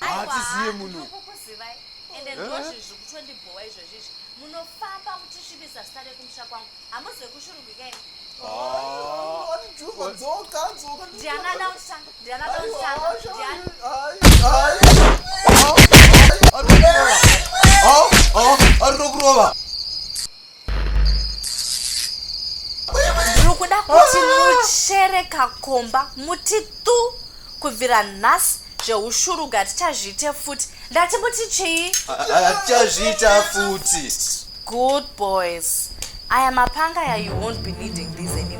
haatiziye muno kukuzivai ende ndozvi zvikutondibowa izvozvi izvi munofamba muchisvibisa zita rekumusha kwangu hamuzi vekushurugika ini arikurokurova mukuda kuti muchere kakomba muti tu kubvira nhasi zveushurugati tichazviite futi ndati muti chii tichazviita futi good boys aya mapanga ya you won't be needing these anymore